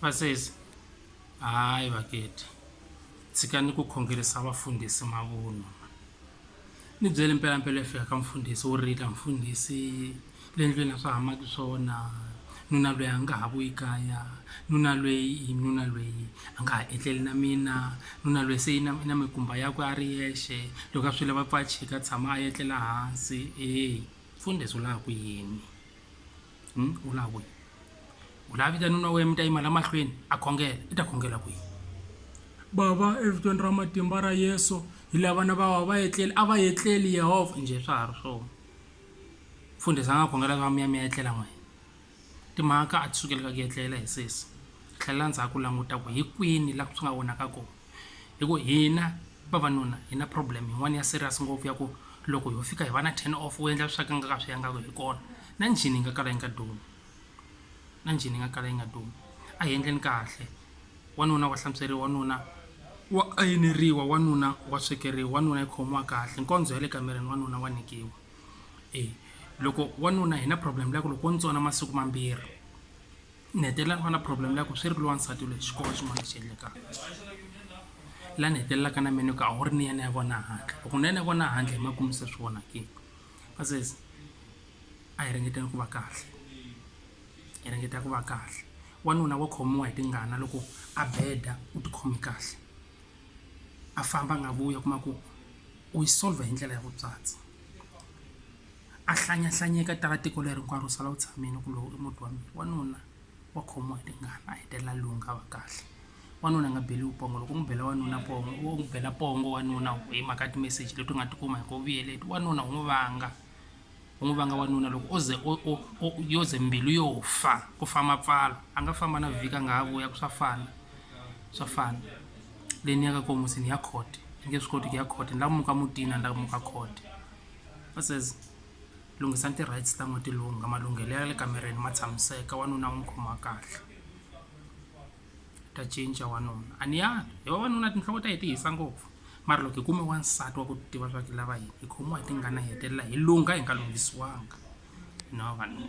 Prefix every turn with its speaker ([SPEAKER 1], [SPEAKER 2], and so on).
[SPEAKER 1] vasesi hayi vaketi tshikani ku khongerisa vafundhisi mavunwa ni byele mpelampela fika ka mfundhisi wo rila mfundhisi le ndlwini a swa hamaki swona nuna lweyi a nga ha vuyi kaya nuna lweyi nuna lweyi a nga ha etleli na mina nuna lweyi se na na mikumba yakwe a ri yexe loko a swi lava pfa a chika tshama a etlela hansi e mfundhisi u laha ku yini Hmm? u lava ku yini u lava vita nuna wena mi ta yima la mahlweni a khongela i ta khongela ku yini bava evitweni ra matimba ra yesu hi lava vana va va va etleli a va etleli yehovha njhe swa ha ri swona mfundhisi a nga khongela va mi ya mi ya etlela n'wina timhaka a ti sukeli ka ku etlela hi sesi tlhelela ndzhaku languta ku hi kwini laha swi nga vonaka kona hi ku hina vavanuna hi na problem yin'wana ya serious ngopfu ya ku loko ho fika hi va na ten off u endla swa ku nga ka swi yangaka hi kona na njhini yi nga kala yi nga dumi na njhini yi nga kala yi nga dumi a hi endleni kahle wanuna wa hlantsweriwa wanuna wa ayineriwa wanuna wa swekeriwa wanuna yi khomiwa kahle nkondzo ya le kamereni wanuna wa nyikiwa e loko wanuna hi na problem leyi ku loko wo ntsona masiku mambirhi ni hetelela ni va na problem ya ku swi ri loyi wansati loyi xi kona xin'wana lexi endlekaka la ni hetelelaka na me ni ku a wu ri ni yena ya vona handle loko ni yena ya vona handle hi makumu se swi vona ke va says a hi ringeteni ku va kahle hi ringeta ku va kahle wanuna wa khomiwa hi tingana loko a beda u ti khome kahle a famba a nga vuyi a kuma ku u yi solver hi ndlela ya vutswatsi. a hlanyahlanyeka tala tiko leri hinkwaro sala u tshamile ku lowu i muti wa mina wanuna wa khomiwa hi tingana a hetelela lungha a va kahle wanuna a nga beriwi pongo loko u n'wi bela wanuna pongo u n'wi bela pongo wanuna hi mhaka timeseji leti u nga ti kuma hi ku vuyele wanuna u n'wi vanga u n'wi vanga wanuna loko o ze yo ze mbilu yo fa ku famba pfala a nga famba na vhiki a nga ha vuya ku swa fana swa fana leyi ni ya ka kona musi ni ya court ni nge swi koti ku ya court ni lava muka mutini a ni lava muka court. va says lunghisani ti-rights ta n'wina ti lungha malunghelo ya le kamareni ma tshamiseka wanuna u n'wi khoma kahle ta cinca wanuna a ni ya hi vavanuna tinhloko ta hi ti hisa ngopfu mara loko hi kume wansati wa ku tiva swa ku lava yini hi khomiwa hi tingana hi hetelela hi lungha hi nga lunghisiwanga hina vavanuna.